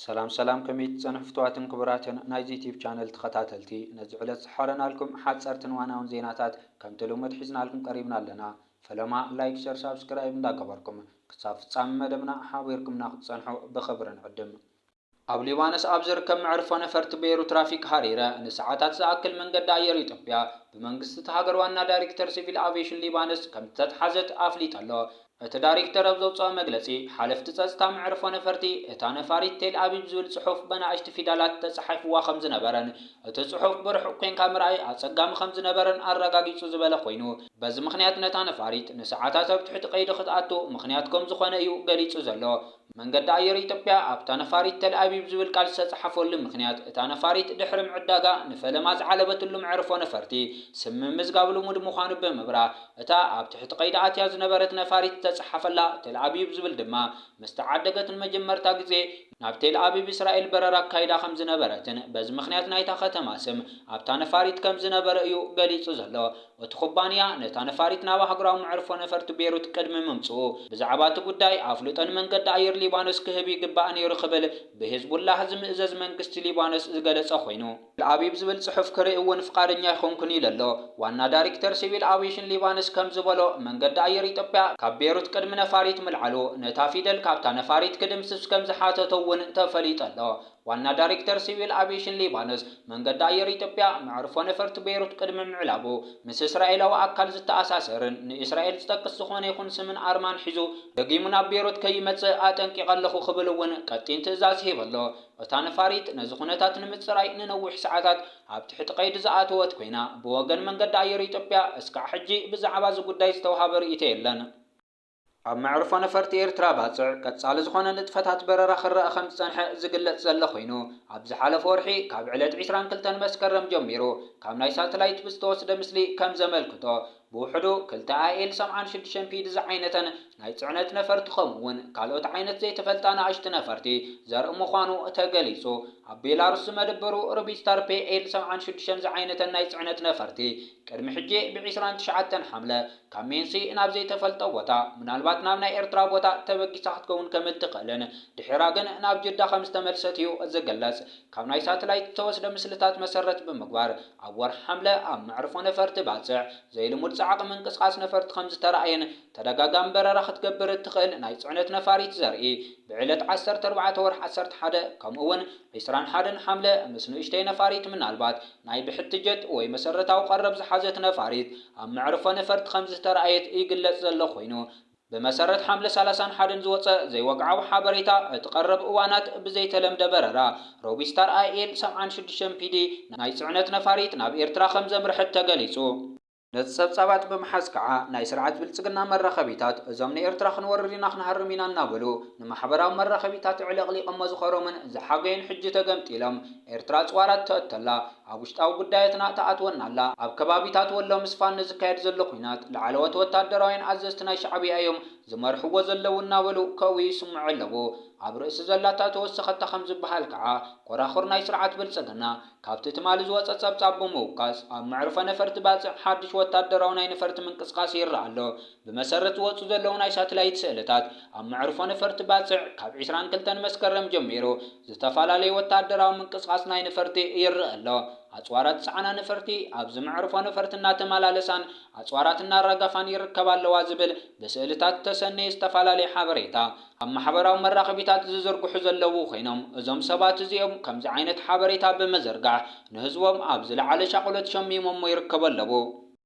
ሰላም ሰላም ከመይ ትጸንሑ ፍትዋትን ክቡራትን ናይዚ ዩቲብ ቻነል ተኸታተልቲ ነዚ ዕለት ዝሓረናልኩም ሓጸርትን ዋናውን ዜናታት ከምቲ ልሙድ ሒዝናልኩም ቀሪብና ኣለና ፈለማ ላይክ ሸር ሳብስክራይብ እንዳገበርኩም ክሳብ ፍጻሚ መደብና ሓቢርኩምና ክትጸንሑ ብኽብሪ ንዕድም። ኣብ ሊባኖስ ኣብ ዝርከብ መዕርፎ ነፈርቲ በይሩት ራፊክ ሃሪረ ንሰዓታት ዝኣክል መንገዲ ኣየር ኢትዮጵያ ብመንግስቲ እታ ሃገር ዋና ዳይሬክተር ሲቪል ኣቬሽን ሊባኖስ ከምዝተትሓዘት ኣፍሊጠ ኣሎ። እቲ ዳሪክተር ኣብ ዘውጽኦ መግለጺ፣ ሓለፍቲ ጸጽታ መዕርፎ ነፈርቲ እታ ነፋሪት ቴል ኣቪቭ ዝብል ጽሑፍ በናእሽቲ ፊዳላት ተጻሒፍዋ ከምዝነበረን እቲ ጽሑፍ ብርሑቕ ኮንካ ምርኣይ ኣጸጋሚ ከምዝነበረን ኣረጋጊጹ ዝበለ ኮይኑ በዚ ምኽንያት ነታ ነፋሪት ንሰዓታት ኣብ ትሕቲ ቀይዲ ክትኣቱ ምኽንያት ከምዝኾነ እዩ ገሊጹ ዘሎ። መንገዲ ኣየር ኢትዮጵያ ኣብታ ነፋሪት ተልኣቪቭ ዝብል ቃል ዝተጻሓፈሉ ምኽንያት እታ ነፋሪት ድሕሪ ምዕዳጋ ንፈለማ ዝዓለበትሉ መዕርፎ ነፈርቲ ስም ምምዝጋብ ልሙድ ምዃኑ ብምብራህ እታ ኣብ ትሕቲ ቀይዲ ኣትያ ዝነበረት ነፋሪት ዝተጻሓፈላ ተልኣቪቭ ዝብል ድማ ምስተዓደገት ንመጀመርታ ግዜ ናብ ቴልኣቪቭ እስራኤል በረራ ኣካይዳ ከምዝነበረትን በዚ ምኽንያት ናይታ ከተማ ስም ኣብታ ነፋሪት ከምዝነበረ እዩ ገሊጹ ዘሎ። እቲ ኩባንያ፣ ነታ ነፋሪት ናብ ኣህጉራዊ መዕርፎ ነፈርቲ ቤሩት ቅድሚ ምምጽኡ፣ ብዛዕባ እቲ ጉዳይ ኣፍልጦ ንመንገዲ ኣየር ሊባኖስ ክህብ ይግባእ ነይሩ ክብል ብሂዝቡላህ ዝምእዘዝ መንግስቲ ሊባኖስ ዝገለጸ ኮይኑ፣ ተልኣቪቭ ዝብል ጽሑፍ ክርኢ እውን ፍቓደኛ ኣይኮንኩን ኢሉ ኣሎ። ዋና ዳሪክተር ሲቪል ኣቪየሽን ሊባኖስ ከም ዝበሎ፣ መንገዲ ኣየር ኢትዮጵያ ካብ ቤሩት ቅድሚ ነፋሪት ምልዓሉ፣ ነታ ፊደል ካብታ ነፋሪት ክድምስስ ከም ዝሓተቶ እውን ተፈሊጡ ኣሎ። ዋና ዳሪክተር ሲቪል ኣቪየሽን ሊባኖስ፣ መንገዲ ኣየር ኢትዮጵያ፣ መዕርፎ ነፈርቲ ቤይሩት ቅድሚ ምዕላቡ፣ ምስ እስራኤላዊ ኣካል ዝተኣሳሰርን ንእስራኤል ዝጠቅስ ዝኾነ ይኹን ስምን ኣርማን ሒዙ ደጊሙ ናብ ቤይሩት ከይመጽእ ኣጠንቂቐ ኣለኹ ክብል እውን ቀጢን ትእዛዝ ሂቡ ኣሎ። እታ ነፋሪት ነዚ ኩነታት ንምጽራይ ንነዊሕ ሰዓታት ኣብ ትሕቲ ቀይዲ ዝኣተወት ኮይና፣ ብወገን መንገዲ ኣየር ኢትዮጵያ እስካዕ ሕጂ ብዛዕባ እዚ ጉዳይ ዝተውሃበ ርእይቶ የለን። ኣብ መዕርፎ ነፈርቲ ኤርትራ ባጽዕ ቀጻሊ ዝኾነ ንጥፈታት በረራ ክረኣ ከምዝጸንሐ ዝግለጽ ዘሎ ኮይኑ፣ ኣብ ዝሓለፈ ወርሒ ካብ ዕለት ዕስራን ክልተን መስከረም ጀሚሩ ካብ ናይ ሳተላይት ብዝተወስደ ምስሊ ከምዘመልክቶ ብውሕዱ ክልተ ኣኤል ሰብዓን ሽዱሽተን ፒዲ ዝዓይነተን ናይ ጽዕነት ነፈርቲ ከምኡ'ውን ካልኦት ዓይነት ዘይተፈልጣ ንኣሽቱ ነፈርቲ ዘርኢ ምዃኑ ተገሊጹ። ኣብ ቤላሩስ ዝመደበሩ ርቢስታር ፒኤል ሰብዓን ሽዱሽተን ዝዓይነተን ናይ ጽዕነት ነፈርቲ ቅድሚ ሕጂ ብ ዕስራን ትሽዓተን ሓምለ ካብ ሜንሲ ናብ ዘይተፈልጠ ቦታ፣ ምናልባት ናብ ናይ ኤርትራ ቦታ፣ ተበጊሳ ክትከውን ከም እትኽእልን ድሒራ ግን ናብ ጅዳ ከም ዝተመልሰት'ዩ ዝግለጽ። ካብ ናይ ሳትላይት ዝተወስደ ምስልታት መሰረት ብምግባር፣ ኣብ ወርሒ ሓምለ ኣብ መዕርፎ ነፈርቲ ባጽዕ ዘይልሙድ ጻዕቒ ምንቅስቓስ ነፈርቲ ከም ዝተራእየን ተደጋጋሚ በረራ ክትገብር እትኽእል ናይ ጽዕነት ነፋሪት ዘርኢ ብዕለት ዓሰርተ ኣርባዕተ ወርሒ ዓሰርተ ሓደ ከምኡ'ውን ዕስራን ሓደን ሓምለ ምስ ንኡሽተይ ነፋሪት ምናልባት ናይ ብሕቲ ጀት ወይ መሰረታዊ ቀረብ ዝሓዘት ነፋሪት ኣብ መዕርፎ ነፈርቲ ከምዝተራእየት ይግለጽ ዘሎ ኮይኑ ብመሰረት ሓምለ ሰላሳን ሓደን ዝወጸ ዘይወግዓዊ ሓበሬታ እቲ ቀረብ እዋናት ብዘይተለምደ በረራ ሮቢስታር ኣይኤል ሰብዓን ሽዱሽተን ፒዲ ናይ ጽዕነት ነፋሪት ናብ ኤርትራ ከምዘምርሐት ተገሊጹ። ነቲ ጸብጻባት ብምሓዝ ከኣ ናይ ስርዓት ብልጽግና መራኸቢታት እዞም ንኤርትራ ክንወርር ኢና ክንሃርም ኢና እናበሉ ንማሕበራዊ መራኸቢታት ኣዕለቕሊቐሞ ዝኸረሙን ዝሓገዩን ሕጂ ተገምጢሎም ኤርትራ ጽዋራት ተእቶላ ኣብ ውሽጣዊ ጉዳያትና ትኣትወና ኣላ ኣብ ከባቢታት ወሎ ምስፋን ንዝካየድ ዘሎ ኵናት ላዕለዎት ወታደራውያን ኣዘዝቲ ናይ ሻዕብያ እዮም ዝመርሕዎ ዘለዉ እናበሉ ከእውዩ ይስምዑ ኣለዉ ኣብ ርእሲ ዘላታ ተወሰኸታ ከም ዝበሃል ከኣ ኮራኹር ናይ ስርዓት ብልጽግና ካብቲ ትማሊ ዝወጸ ጸብጻብ ብምውካስ፣ ኣብ መዕርፎ ነፈርቲ ባጽዕ ሓድሽ ወታደራዊ ናይ ነፈርቲ ምንቅስቓስ ይርኣ ኣሎ። ብመሰረት ዝወጹ ዘለዉ ናይ ሳትላይት ስእልታት፣ ኣብ መዕርፎ ነፈርቲ ባጽዕ ካብ ዕስራን ክልተን መስከረም ጀሚሩ ዝተፋላለየ ወታደራዊ ምንቅስቓስ ናይ ነፈርቲ ይርኣ ኣሎ። ኣጽዋራት ዝጸዓና ነፈርቲ ኣብዚ መዕርፎ ነፈርቲ እናተመላለሳን ኣጽዋራት እናራገፋን ይርከባ ኣለዋ ዝብል ብስእልታት ዝተሰነየ ዝተፋላለየ ሓበሬታ ኣብ ማሕበራዊ መራኸቢታት ዝዝርግሑ ዘለዉ ኮይኖም እዞም ሰባት እዚኦም ከምዚ ዓይነት ሓበሬታ ብምዝርጋሕ ንህዝቦም ኣብ ዝለዓለ ሻቕሎት ሸሚሞሞ ይርከቡ ኣለዉ።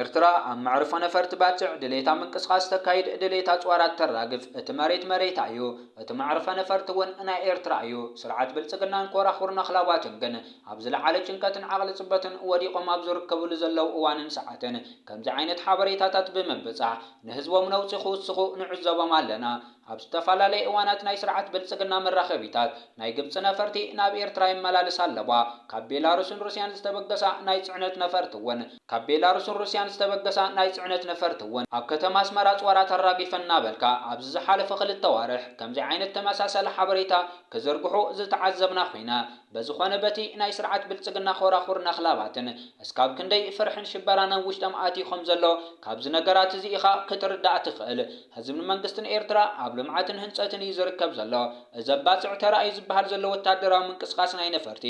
ኤርትራ ኣብ መዕርፎ ነፈርቲ ባጽዕ ድሌታ ምንቅስቓስ ተካይድ ድሌት ኣጽዋራት ተራግፍ እቲ መሬት መሬታ እዩ እቲ መዕርፈ ነፈርቲ ውን ናይ ኤርትራ እዩ ስርዓት ብልጽግናን ኮራኹር ነኽላባቱን ግን ኣብ ዝለዓለ ጭንቀትን ዓቕሊ ጽበትን ወዲቖም ኣብ ዝርከብሉ ዘለዉ እዋንን ሰዓትን ከምዚ ዓይነት ሓበሬታታት ብምብጻሕ ንህዝቦም ነውጺ ክውስኹ ንዕዘቦም ኣለና። ኣብ ዝተፈላለየ እዋናት ናይ ስርዓት ብልጽግና መራኸቢታት፣ ናይ ግብጺ ነፈርቲ ናብ ኤርትራ የመላልሳ ኣለዋ። ካብ ቤላሩስን ሩስያን ዝተበገሳ ናይ ጽዕነት ነፈርቲ'ውን ካብ ቤላሩስን ሩስያን ዝተበገሳ ናይ ጽዕነት ነፈርቲ'ውን ኣብ ከተማ ኣስመራ ኣጽዋራ ተራጊፈን እናበልካ ኣብዚ ዝሓለፈ ክልተ ኣዋርሕ ከምዚ ዓይነት ተመሳሳሊ ሓበሬታ ክዝርግሑ ዝተዓዘብና ኹይና፣ በዝኾነ በቲ ናይ ስርዓት ብልጽግና ኾራኹር ነኽላባትን እስካብ ክንደይ ፍርሕን ሽበራን ኣብ ውሽጠም ኣትዩ ከም ዘሎ ካብዚ ነገራት እዚ ኢኻ ክትርዳእ ትኽእል። ህዝብን መንግስትን ኤርትራ ኣብ ልምዓትን ህንጸትን እዩ ዝርከብ ዘሎ። እዚ ኣብ ባጽዕ ተራእዩ ዝበሃል ዘሎ ወተሃደራዊ ምንቅስቃስ ናይ ነፈርቲ፣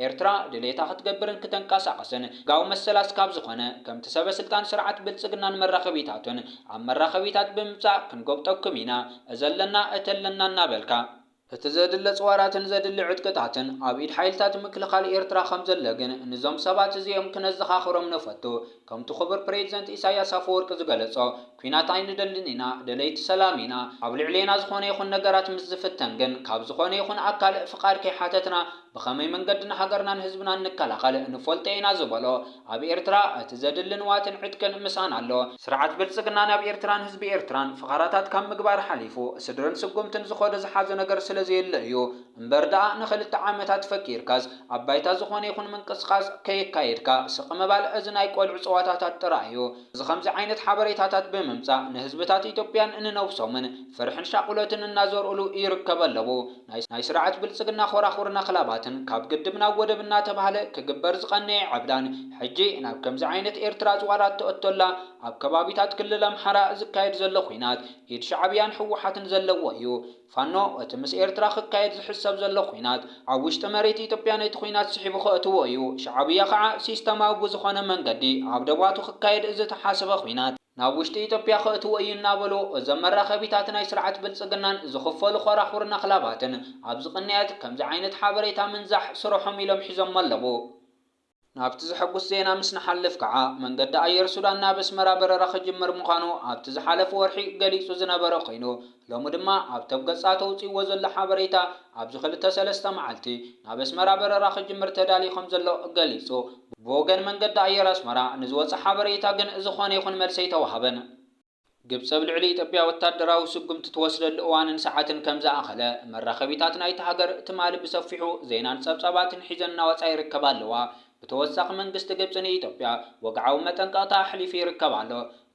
ኤርትራ ድሌታ ክትገብርን ክተንቀሳቅስን ሕጋዊ መሰላ እስካብ ዝኾነ ከምቲ ሰበስልጣን ስርዓት ብልጽግናን መራኸቢታቱን ኣብ መራኸቢታት ብምምጻእ ክንጎብጠኩም ኢና፣ እዚ ኣለና እቲ ኣለና እናበልካ እቲ ዘድሊ ኣጽዋራትን ዘድሊ ዕጥቅታትን ኣብ ኢድ ሓይልታት ምክልኻል ኤርትራ ከም ዘሎ ግን ንዞም ሰባት እዚኦም ክነዘኻኽሮም ንፈቱ። ከምቲ ክቡር ፕሬዚደንት ኢሳይያስ ኣፈወርቂ ዝገለጾ ኲናት ኣይንደልን ኢና፣ ደለይቲ ሰላም ኢና። ኣብ ልዕሌና ዝኾነ ይኹን ነገራት ምስ ዝፍተን ግን ካብ ዝኾነ ይኹን ኣካል ፍቓድ ከይሓተትና ብኸመይ መንገዲ ንሃገርናን ህዝብናን ንከላኸል ንፈልጦ ኢና ዝበሎ ኣብ ኤርትራ እቲ ዘድሊ ንዋትን ዕጥቅን ምስኣን ኣሎ። ስርዓት ብልጽግና ናብ ኤርትራን ህዝቢ ኤርትራን ፍኻራታት ካብ ምግባር ሓሊፉ ስድርን ስጉምትን ዝኸዶ ዝሓዞ ነገር ስለ ዘየለ እዩ። እምበር ድኣ ንኽልተ ዓመታት ፈኪርካስ ኣብ ባይታ ዝኾነ ይኹን ምንቅስቓስ ከየካየድካ ስቕ ምባል እዚ ናይ ቆልዑ ጸዋታታት ጥራይ እዩ። እዚ ከምዚ ዓይነት ሓበሬታታት ብምምጻእ ንህዝብታት ኢትዮጵያን ንነብሶምን ፍርሕን ሻቑሎትን እናዘርኡሉ ይርከበ ኣለዉ። ናይ ስርዓት ብልጽግና ኾራኹርን ኣኽላባትን ካብ ግድብ ናብ ወደብ እናተባህለ ክግበር ዝቐነየ ዕብዳን ሕጂ ናብ ከምዚ ዓይነት ኤርትራ ዝዋላ እተእቶላ ኣብ ከባቢታት ክልል ኣምሓራ ዝካየድ ዘሎ ኹናት ኢድ ሻዕብያን ህወሓትን ዘለዎ እዩ። ፋኖ እቲ ምስ ኤርትራ ክካየድ ዝሕሰብ ዘሎ ኹናት ኣብ ውሽጢ መሬት ኢትዮጵያ ነቲ ኹናት ስሒቡ ከእትዎ እዩ። ሻዕብያ ኸዓ ሲስተማዊ ብዝኾነ መንገዲ ኣብ ደባቱ ክካየድ ዝተሓሰበ ኹናት ናብ ውሽጢ ኢትዮጵያ ከእትዎ እዩ እናበሉ እዞም መራኸቢታት ናይ ስርዓት ብልፅግናን ዝኽፈሉ ኾራኹርን ኣኽላባትን ኣብዚ ቅንያት ከምዚ ዓይነት ሓበሬታ ምንዛሕ ስርሖም ኢሎም ሒዞሞ ኣለዉ። ናብቲ ዘሐጉስ ዜና ምስ ንሓልፍ ከዓ መንገዲ ኣየር ሱዳን ናብ ኣስመራ በረራ ክጅምር ምዃኑ ኣብቲ ዝሓለፈ ወርሒ ገሊፁ ዝነበረ ኮይኑ ሎሚ ድማ ኣብ ቶብ ገጻ ተውጺእዎ ዘሎ ሓበሬታ ኣብዚ ክልተ ሰለስተ መዓልቲ ናብ ኣስመራ በረራ ክጅምር ተዳልዩ ከምዘሎ ገሊጹ። ብወገን መንገዲ ኣየር ኣስመራ ንዝወጸ ሓበሬታ ግን ዝኾነ ይኹን መልሲ ኣይተዋህበን። ግብጺ ኣብ ልዕሊ ኢትዮጵያ ወታደራዊ ስጉምቲ ትወስደሉ እዋንን ሰዓትን ከምዝኣኸለ መራኸቢታት ናይታ ሃገር ትማሊ ብሰፊሑ ዜናን ጸብጻባትን ሒዘን እናወጻ ይርከባ ኣለዋ። ብተወሳኺ መንግስቲ ግብጺ ንኢትዮጵያ ወግዓዊ መጠንቀቕታ ኣሕሊፉ ይርከብ ኣሎ።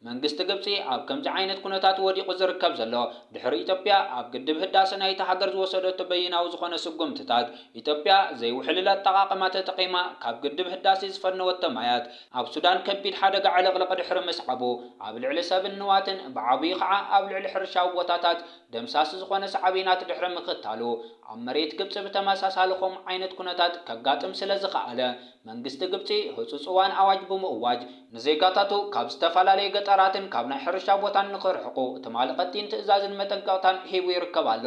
መንግስቲ ግብጺ ኣብ ከምዚ ዓይነት ኩነታት'ዩ ወዲቑ ዝርከብ ዘሎ። ድሕሪ ኢትዮጵያ ኣብ ግድብ ህዳሰ ናይታ ሃገር ዝወሰደቶ በይናዊ ዝኾነ ስጉምትታት፣ ኢትዮጵያ ዘይውሕልል ኣጠቓቕማ ተጠቒማ ካብ ግድብ ህዳሴ ዝፈነወቶ ማያት፣ ኣብ ሱዳን ከቢድ ሓደጋ ዕልቕልቕ ድሕሪ ምስዓቡ፣ ኣብ ልዕሊ ሰብን ንዋትን ብዓብዩ ኸዓ ኣብ ልዕሊ ሕርሻዊ ቦታታት ደምሳሲ ዝኾነ ሳዕቤናት ድሕሪ ምኽታሉ፣ ኣብ መሬት ግብጺ ብተመሳሳሊ ከምኡ ዓይነት ኩነታት ከጋጥም ስለዝኸኣለ መንግስቲ ግብጺ ህጹጽ እዋን ኣዋጅ ብምእዋጅ ንዜጋታቱ ካብ ዝተፈላለየ ገጠራትን ካብ ናይ ሕርሻ ቦታን ንኽርሕቁ ትማሊ ቀጢን ትእዛዝን መጠንቀቕታን ሂቡ ይርከብ ኣሎ።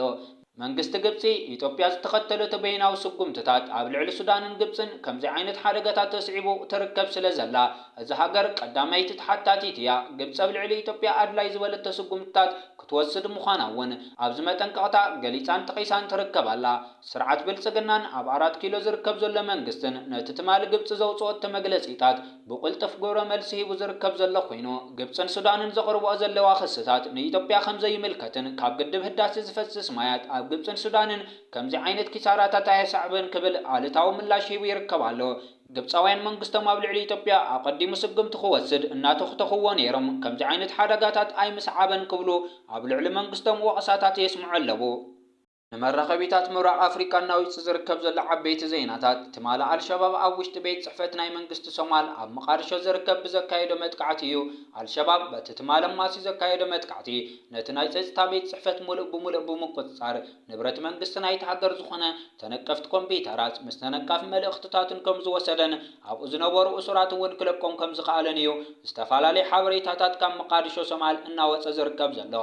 መንግስቲ ግብጺ፣ ኢትዮጵያ ዝተኸተለቶ በይናዊ ስጉምትታት ኣብ ልዕሊ ሱዳንን ግብጽን ከምዚ ዓይነት ሓደጋታት ተስዒቡ ትርከብ ስለ ዘላ፣ እዛ ሃገር ቀዳመይቲ ተሓታቲት እያ። ግብጺ ኣብ ልዕሊ ኢትዮጵያ ኣድላዪ ዝበለቶ ስጉምትታት ክትወስድ ምዃና እውን ኣብዚ መጠንቀቕታ ገሊጻን ጠቒሳን ትርከብ ኣላ። ስርዓት ብልጽግናን ኣብ ኣራት ኪሎ ዝርከብ ዘሎ መንግስትን ነቲ ትማሊ ግብጺ ዘውጽኦቶ መግለጺታት ብቕልጡፍ ግብረ መልሲ ሂቡ ዝርከብ ዘሎ ኮይኑ፣ ግብጽን ሱዳንን ዘቕርብኦ ዘለዋ ክስታት ንኢትዮጵያ ከም ዘይምልከትን ካብ ግድብ ህዳሰ ዝፈስስ ማያት ኣብ ግብጽን ሱዳንን ከምዚ ዓይነት ኪሳራታት ኣየሰዕብን ክብል ኣሉታዊ ምላሽ ሂቡ ይርከብ ኣሎ። ግብጻውያን መንግስቶም ኣብ ልዕሊ ኢትዮጵያ ኣቐዲሙ ስጉምቲ ክወስድ እናተኹተኹዎ ነይሮም ከምዚ ዓይነት ሓደጋታት ኣይምስዓበን ክብሉ ኣብ ልዕሊ መንግስቶም ወቕሳታት የስምዑ ኣለዉ። ንመራኸቢታት ምብራቕ ኣፍሪቃ እናዊጹ ዝርከብ ዘሎ ዓበይቲ ዜናታት፣ ትማሊ ኣልሸባብ ኣብ ውሽጢ ቤት ጽሕፈት ናይ መንግስቲ ሶማል ኣብ መቓድሾ ዝርከብ ብዘካየዶ መጥቃዕቲ እዩ። ኣልሸባብ በቲ ትማሊ ኣማስዩ ዘካየዶ መጥቃዕቲ ነቲ ናይ ጸጽታ ቤት ጽሕፈት ምሉእ ብምሉእ ብምቁጽጻር ንብረት መንግስቲ ናይቲ ሃገር ዝኾነ ተነቀፍቲ ኮምፒዩተራት ምስ ተነቃፊ መልእኽትታቱን ከምዝወሰደን ኣብኡ ዝነበሩ እሱራት እውን ክለቆም ከምዝኸኣለን እዩ ዝተፋላለዩ ሓበሬታታት ካብ መቓድሾ ሶማል እናወጸ ዝርከብ ዘሎ።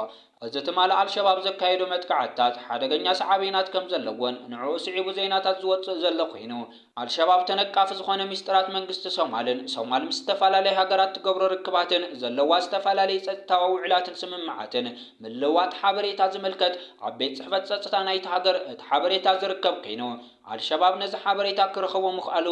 እዚ ትማሊ ኣልሸባብ ዘካየዶ መጥቃዕትታት ሓደገኛ ሰዓቤናት ከም ዘለዎን ንዕኡ ስዒቡ ዜናታት ዝወጽእ ዘሎ ኮይኑ፣ ኣልሸባብ ተነቃፊ ዝኾነ ሚስጥራት መንግስቲ ሶማልን፣ ሶማል ምስ ዝተፈላለያ ሃገራት ትገብሮ ርክባትን፣ ዘለዋ ዝተፈላለየ ጸጥታዊ ውዕላትን ስምምዓትን ምልውዋጥ ሓበሬታ ዝምልከት ኣብ ቤት ጽሕፈት ጸጽታ ናይታ ሃገር እቲ ሓበሬታ ዝርከብ ኮይኑ፣ ኣልሸባብ ነዚ ሓበሬታ ክረኽቦ ምኽኣሉ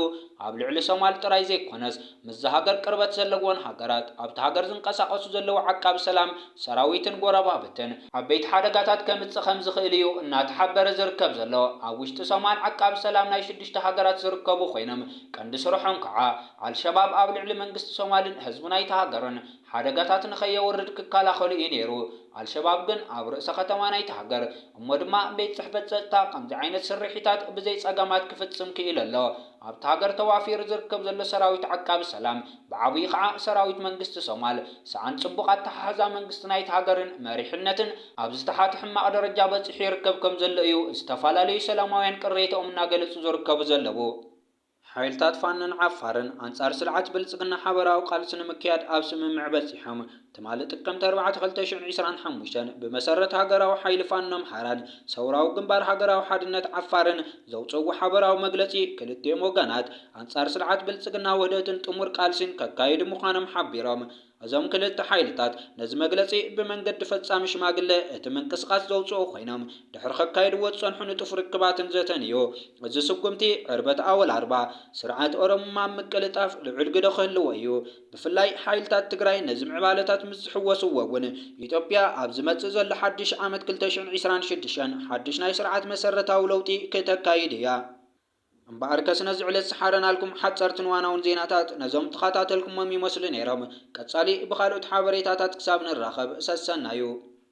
ኣብ ልዕሊ ሶማል ጥራይ ዘይኮነስ ምስዛ ሃገር ቅርበት ዘለወን ሃገራት፣ ኣብታ ሃገር ዝንቀሳቐሱ ዘለዉ ዓቃቢ ሰላም ሰራዊትን ጎረባብትን፣ ዓበይቲ ሓደጋታት ከምጽእ ከምዝኽእል እዩ እናተሓበረ ዝርከብ ዘሎ። ኣብ ውሽጢ ሶማል ዓቃቢ ሰላም ናይ ሽዱሽተ ሃገራት ዝርከቡ ኮይኖም ቀንዲ ስርሖም ከኣ ኣልሸባብ ኣብ ልዕሊ መንግስቲ ሶማልን ህዝቢ ናይታ ሃገርን፣ ሓደጋታት ንኸየውርድ ክከላኸሉ እዩ ነይሩ። ኣልሸባብ ግን ኣብ ርእሰ ከተማ ናይታ ሃገር እሞ ድማ ቤት ጽሕፈት ጸጥታ ከምዚ ዓይነት ስርሒታት ብዘይ ጸገማት ክፍጽም ክኢሉ ኣሎ። ኣብታ ሃገር ተዋፊሩ ዝርከብ ዘሎ ሰራዊት ዓቃቢ ሰላም ብዓብዩ ኸኣ ሰራዊት መንግስቲ ሶማል ሰኣን ጽቡቕ ኣተሓሕዛ መንግስቲ ናይታ ሃገርን መሪሕነትን ኣብ ዝተሓተ ሕማቕ ደረጃ በጺሑ ይርከብ ከምዘሎ እዩ ዝተፋላለዩ ሰላማውያን ቅሬተኦም እናገለጹ ዝርከቡ ዘለዉ። ሓይልታት ፋኖን ዓፋርን ኣንጻር ስርዓት ብልጽግና ሓበራዊ ቃልሲ ንምክያድ ኣብ ስምምዕ በጺሖም። ትማሊ ጥቅምቲ ኣርባዕተ ክልተ ሽሕን ዕስራን ሓሙሽተን ብመሰረት ሃገራዊ ሓይሊ ፋኖ ኣምሓራን ሰውራዊ ግንባር ሃገራዊ ሓድነት ዓፋርን ዘውጽእዎ ሓበራዊ መግለጺ ክልቲኦም ወገናት ኣንጻር ስርዓት ብልጽግና ውህደትን ጥሙር ቃልሲን ከካይዱ ምዃኖም ሓቢሮም። እዞም ክልተ ሓይልታት ነዚ መግለጺ ብመንገዲ ፈጻሚ ሽማግለ እቲ ምንቅስቓስ ዘውጽኡ ኮይኖም ድሕሪ ከካይድዎ ዝጸንሑ ንጡፍ ርክባትን ዘተን እዩ። እዚ ስጉምቲ ዕርበት ኣወል ኣርባ ስርዓት ኦሮሙማ ኣብ ምቅልጣፍ ልዑል ግደ ክህልዎ እዩ። ብፍላይ ሓይልታት ትግራይ ነዚ ምዕባለታት ምስ ዝሕወስዎ እውን ኢትዮጵያ ኣብ ዝመጽእ ዘሎ ሓድሽ ዓመት ክልተ ሽሕን ዕስራን ሽዱሽተን ሓድሽ ናይ ስርዓት መሰረታዊ ለውጢ ክተካይድ እያ። እምበኣርከስ ነዚ ዕለት ዝሓረናልኩም ሓጸርትን ዋናውን ዜናታት ነዞም ተኻታተልኩሞም ይመስሉ ነይሮም። ቀጻሊ ብኻልኦት ሓበሬታታት ክሳብ ንራኸብ ሰሰናዩ።